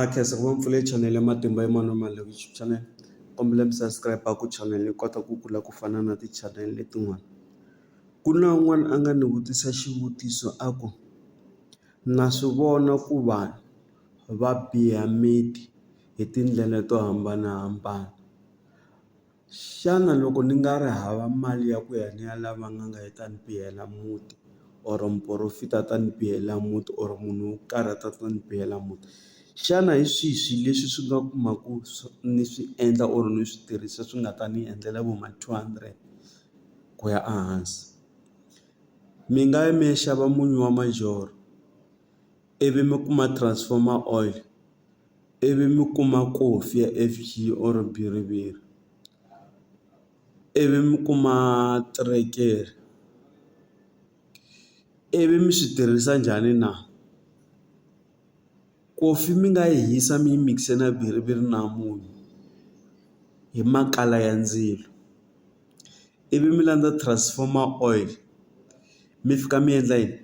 A khensa ngopfu pfule chanele ya matimba ya mano ma YouTube channel kombela mi subscribe a ku channel yi kota ku kula ku fana na ti-channel letin'wana ku na un'wana a nga ni vutisa xivutiso a ku na swi vona ku vanhu va biha miti hi tindlela to hambanahambana. Xana loko ni nga ri hava mali ya ku ya ni ya lava n'anga yi ta ni pihela muti or muporofita a ta ni pihela muti or munhu wo karhi a ta ta ni pihela muti xana hi swihi swi leswi swi nga kumaku ni swi endla or ni swi tirhisa swi nga ta ni endlela vo ma two hundred ku ya a hansi mi nga yi mi ya xava munyu wa majoro ivi mi kuma transformer oil. ivi mi kuma kofi ya F_G or bhiriviri ivi mi kuma teretere ivi mi swi tirhisa njhani na kofi mi nga yi hisa mi yi mix-e na bhiriviri na munyu hi makala ya ndzilo. ivi mi landza transformer oil mi fika mi endla yini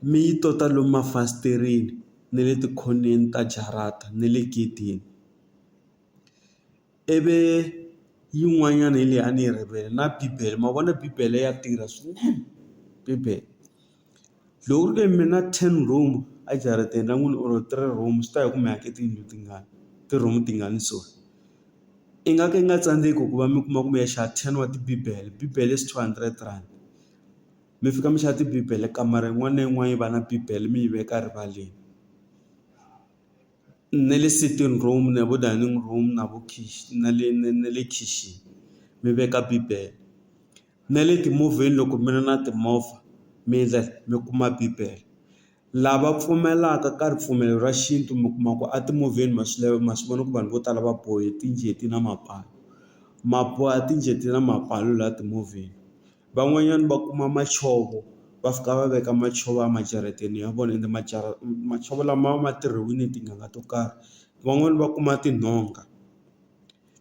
mi yi tota lomu mafasitereni na le tikhoneni ta jarata na le gedeni ivi yin'wanyana hi leyi a ni yi rivele na bibele ma vona bibele ya tirha swinene bibele. Loko ku ri ke mina ten room a jarateni ra n'wina or three room swi ta ya hi ku mi ake tiyindlu tingani ti-room tingani so i nga ka i nga tsandzeki ku va mi kuma kumbe ya xava ten wa tibibele bibele is two hundred rand mi fika mi xava tibibele kamara yin'wana na yin'wana yi va na bibele mi yi veka rivaleni na le sitting room na vo dining room na vo na le na le khixini mi veka bibele na le timovheni loko mi ri na timovha mi endla mi kuma bibele lava pfumelaka ka ripfumelo ra xintu mi kuma ku a timovheni ma swi lava ma swi vona ku vanhu vo tala va bohe tinjeti na mapala ma boha tinjeti na mapala laha timovheni van'wanyana va kuma madzovo va fika va veka madzovo a majarateni ya vona ende majarata madzovo lama ma tirhiwile tinanga to karhi van'wani va kuma tinhonga.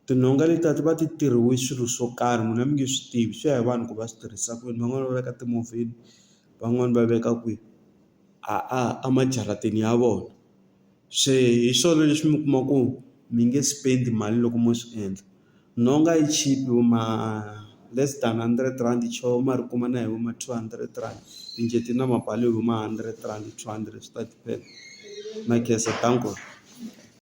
Tinhonga letiya ti va ti tirhiwe swilo swo karhi n'wina mi nge swi tivi swi ya hi vanhu ku va swi tirhisa ku yini van'wani va veka timovheni van'wani va veka kwihi a a a majarateni ya vona se hi swona leswi mi kuma ku mi nge spend mali loko mo swi endla nhonga yi cheap vo ma less than hundred rand cho ma ri kuma na hi vo ma two hundred rand tinjeti ti na mabalo hi vo ma hundred rand two hundred swi ta depend na khensa .